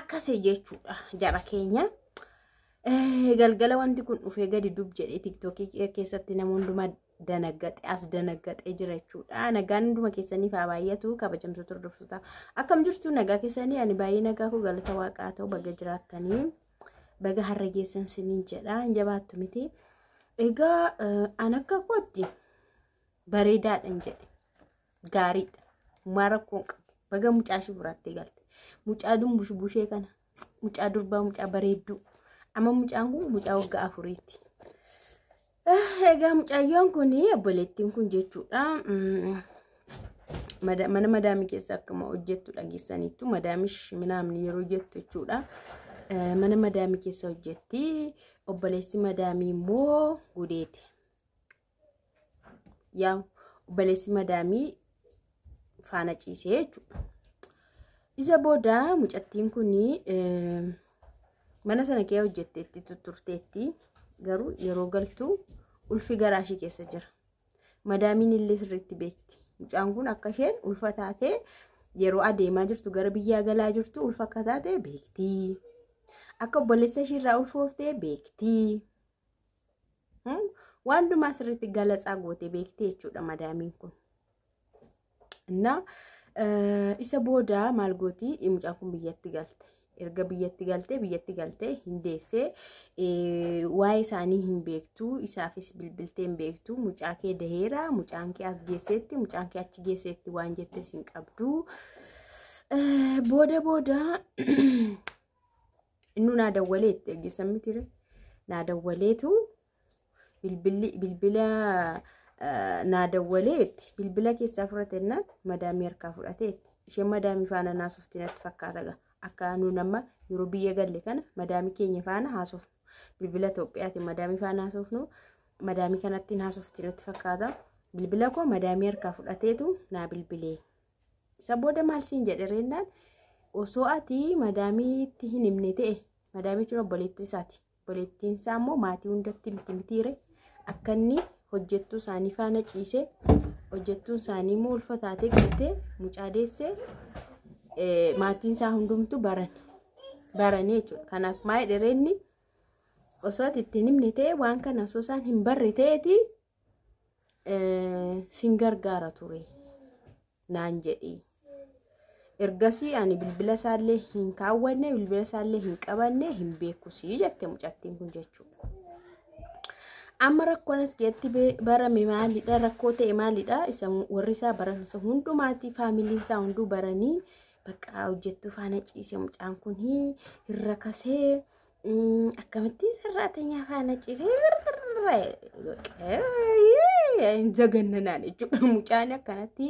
akkasii jechuudha jara keenya. Galgala wanti kun dhufee gadi dub jedhee tiktookii keessatti nama hundumaa danaggaxe as danaggaxee jira jechuudha. Nagaan hunduma keessaniif haa baay'atu kabajamtoota hordoftoota. Akkam jirtu nagaa keessanii ani baay'ee nagaa koo galata waaqaa ta'u baga jiraattanii baga har'a geessan siniin jedha hin jabaattu miti. Egaa an akka kootti bareedaadhan jedhe. gaariidha. Mumaa rakkoo hin qabu. Baga mucaa ishii fudhattee galte. Mucaa dumbush bushee kana. Mucaa durbaa mucaa bareedduu. Amma mucaan kun mucaa waggaa afuriitti. Ah, Egaa mucayyoon kun obboleettiin kun jechuudha. mm, mada- Mana madaamii keessa akkuma hojjettu dhageessaniittu madaamish minaamni yeroo jettu jechuudha. Eh, Mana madaamii keessa hojjetti. Obboleessi madaamii immoo gudeete. yaa obboleessi madaamii faana ciisee jechuudha. Isa booda mucattiin kun mana sana kee hojjetteetti tutturteetti garuu yeroo galtu ulfi garaa ishee keessa jira. Madaamiin illee sirriitti beekti. Mucaan kun akka isheen ulfa taatee yeroo adeemaa jirtu gara biyyaa galaa jirtu ulfa akka taate beekti. Akka obboleessa ishee irraa ulfooftee beekti. Waan dumaa sirriitti galatsaa gootee beektee jechuudha madaamiin kun. Innaa isa booda maal gooti mucaan kun biyyatti galte. Erga biyyatti galtee biyyatti galtee hin deessee waa'ee isaanii hin beektu isaafis bilbiltee hin beektu mucaa kee daheera mucaan kee as geesseetti mucaan kee achi geesseetti waan jettes hin qabdu. Booda booda Innuu naa dawwalee itti dhageessan miti ree. Naa dawwaleetu bilbilli bilbila eh, naa dawwalee itti bilbila keessaa fudhate innaan madaamii harkaa fudhate itti. Isheen madaamii faana naasofti natti fakkaata gaa. Akka nuun amma yeroo biyya galle kana madaamii keenya faana haasofnu. Bilbila Itoophiyaatiin madaamii faana haasofnu. Madaamii kanattiin haasofti natti fakkaata. Bilbila koo madaamii harkaa fudhateetu naa bilbilee. Isa booda maal siin jedhe reennaan osoo ati madaamiitti hin himne ta'e madaamii jechuun obboleettii isaati. Obboleettiin isaa immoo maatii hundatti miti mitiire akka inni hojjettuu isaanii faana ciisee hojjettuun isaanii immoo ulfa taatee galtee mucaa deessee maatiin isaa hundumtu baran baranii jechuudha. Kanaaf maayii dhereenni osoo ati itti hin himne ta'e waan kana osoo isaan hin barre ta'eeti sin gargaara ture naan jedhee ergasii ani bilbila isaallee hin kaawwanne bilbila isaallee hin qabanne hin beekusii jette mucattiin kun jechuudha. Amma rakkoon as keessatti barame maalidha rakkoo ta'e maalidha isa warri isaa baran isa hundumaati faamiliin isaa hunduu baranii bakka hojjettuu faana ciise mucaan kun hin rakasee akkamitti sarraatenyaa faana ciisee hin zagannanaan jechuudha mucaan akkanatti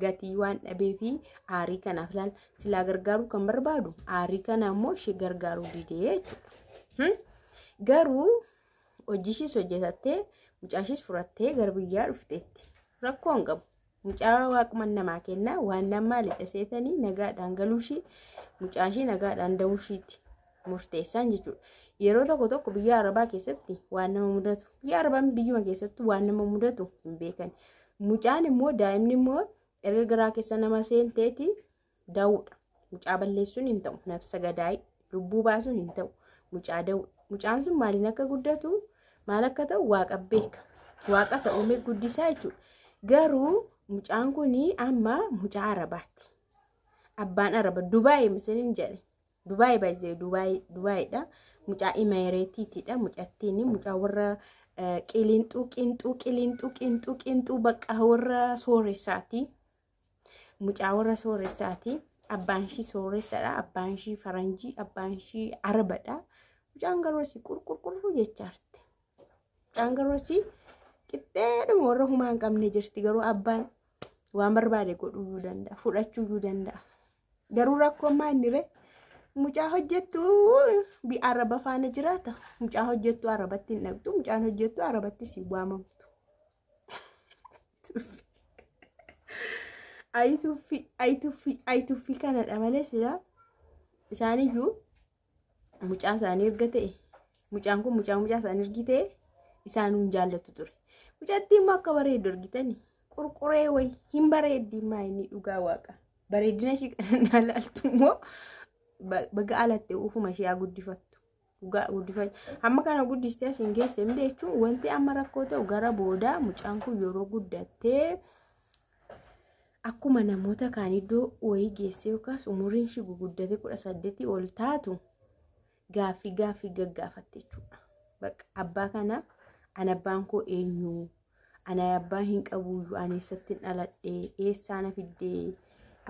gatii waan dhabee fi aarii kanaaf laal silaa gargaaruu kan barbaadu aarii kana immoo ishee gargaaruu didee jechuudha garuu hojii ishees hojjetattee mucaa ishees furattee gara biyyaa dhufteetti rakkoo hin qabu Mucaa waaquman namaa kenna waan nan maalidha seetanii nagaadhaan galuushii mucaashii nagaadhaan da'uushiitti murteessaan jechuudha. Yeroo tokko tokko biyya arabaa keessatti waan nama mudatu biyya arabaa biyyuma keessatti waan nama mudatu hin beekan. Mucaan immoo daa'imni immoo erga garaa keessa nama seenteeti Dawuudha. Mucaa balleessuun hin ta'u. Nafsa gadaay lubbuu baasuun hin ta'u. Mucaa dawuudha. Mucaan sun maaliin akka guddatu maal akka ta'u waaqa beeka. Waaqa isa uumee guddisaa jechuudha. Garuu mucaan kun amma mucaa arabaatti. Abbaan araba Dubaay misiliin jedhe. Dubaay baay'ee Dubaayiidha. Mucaa Imeereetiitidha. Mucattiin mucaa warra qilinxuu qinxuu qilinxuu qinxuu qinxuu bakka warra sooreessaati. Mucaa warra sooressaati. Abbaan ishii sooressadha. Abbaan ishii faranjii, abbaan ishii arabadha. Mucaan garuu asii qurqurqurru jechaa jirti. Mucaan garuu asii qixxeedhuma warra humaa hin qabne jirti. Garuu abbaan waan barbaade godhuu danda'a. Fudhachuu danda'a. Garuu rakkoon maa inni ree? Mucaa hojjettu araba faana jiraata. Mucaa hojjettu arabatti hin dhaqxu. Mucaan hojjettu arabattis hin waamamtu. Ayi tuffii, ayi tuffii, ayi tuffii kanadha malee silaa isaaniyyuu mucaa isaanii erga ta'e mucaan kun mucaa mucaa isaanii ergi ta'e isaanuu hin jaallatu ture. Mucattii immoo akka bareeddu argitani qurquree wayi hin bareeddi maa inni dhugaa waaqa bareeddina ishii kan ilaaltu immoo baga alatte uufuma ishee haa guddifattu dhugaa guddifachuu amma kana guddistee as hin geesse miti jechuun wanti amma rakkoo ta'u gara boodaa mucaan kun yeroo guddattee akkuma namoota kaan iddoo wayii geessee yookaas umuriin ishii guguddatee kudha saddeetii ol taatu gaaffii gaaffii gaggaafatte jechuudha. Bakka abbaa kana an abbaan koo eenyu Anaa abbaa hin qabuuyyu ani eessattin dhaladhe eessaa na fiddee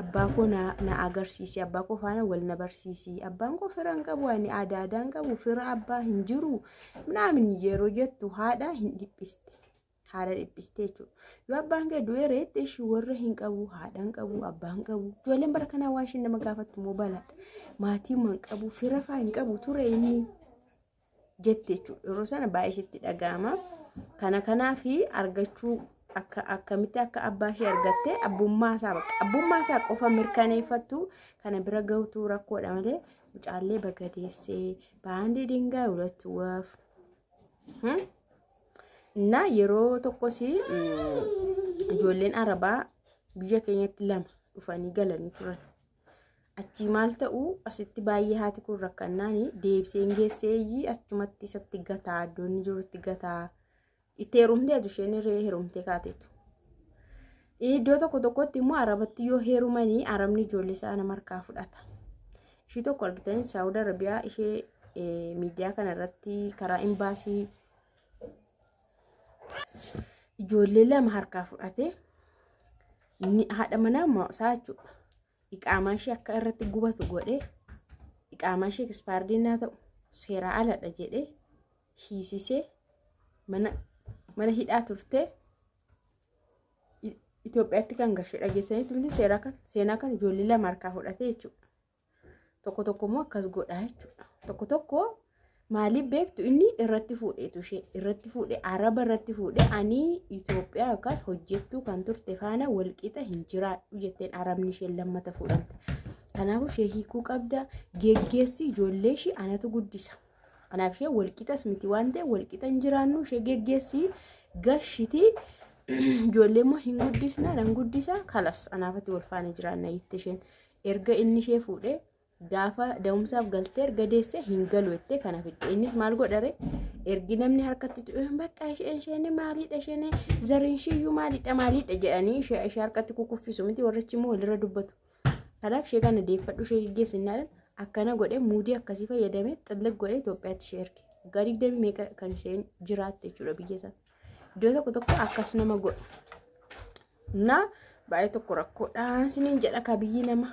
abbaa koo na na agarsiisi abbaa koo faana wal na barsiisi abbaan koo fira hin qabu ani aadaa aadaa hin qabu fira abbaa hin jiru minaamin yeroo jettu haadha hin dhiphiste haadha dhiphiste jechuudha yoo abbaan kee du'ee reetti ishii warra hin qabu haadha hin qabu abbaa hin qabu ijoolleen bara kanaa waan isheen nama gaafattu immoo balaadha maatii hin qabu fira faa hin qabu ture inni jetti jechuudha. Yeroo sana baay'ee ishitti dhaga'ama. Kana kanaaf argachuu akka akkamitti akka abbaa ishee argatte abbummaa isaa bakka abbummaa isaa qofa mirkaneeffattu kana bira gahutu rakkoodha malee mucaallee baga deessee baandii dingaa hulattu waaf. እና yeroo tokkos ijoolleen arabaa biyya keenyatti lama dhufanii galanii turan. Achii maal ta'u asitti baay'ee haati kun rakkannaan deebiseen geesseeyyii achumatti isatti gataa iddoonni jirutti gataa itti heerumtee adu isheen hiree heerumtee kaateetu. Iddoo tokko tokkotti immoo arabatti yoo heerumanii arabni ijoollee isaa nama harkaa fudhata. Ishii tokko argitan Saawud Arabiyaa ishee miidiyaa kana irratti karaa imbaasii ijoollee lama harkaa fudhatee haadha manaa isaa jechuudha. Iqaamaa ishee akka irratti gubatu godhee iqaamaa ishee ekispaardii naa ta'u seeraa aladha jedhee hiisisee mana mana hidhaa turtee Itoophiyaatti kan gashee dhageessanii turte seeraa kan seenaa kan ijoollee lama harkaa fudhatee jechuudha. Tokko tokko immoo akkas godhaa jechuudha. Tokko tokko maaliif beektu inni irratti fuudheetu ishee irratti fuudhe araba irratti fuudhe ani Itoophiyaa yookaas hojjettuu kan turte faana walqixa hin jiraadhu jetteen arabni isheen lammata fuudhamte. Kanaafuu ishee hiikuu qabda geggeessi ijoollee ishee anatu guddisa. Kanaaf ishee walqixas miti waan ta'e walqixa hin jiraannu ishee geggeessi gashiti ijoollee immoo hin guddisna nan guddisa kalas anaafatti wal faana jiraanna jette isheen. erga inni ishee fuudhee gaafa da'umsaaf galtee erga deessee hin galu jettee kana fidde innis maal godhare ergi namni harkatti tu'e bakka isheen isheen maaliidha isheen zariin isheeyyuu maaliidha maaliidha jedhanii ishee ishee harkatti kukuffisu miti warrichi immoo walirra dubbatu kanaaf ishee kana deeffadhu ishee geggeessinnaadhaan akkana godhee muudii akkasii fayyadamee xillig godhee Itoophiyaatti ishee erge waggaa digdamii meeqa kan isheen jiraatte jechuudha biyya sana. Iddoo tokko tokko akkas nama godha. Na baay'ee tokko rakkoodhaan siniin jedha ka biyyi nama.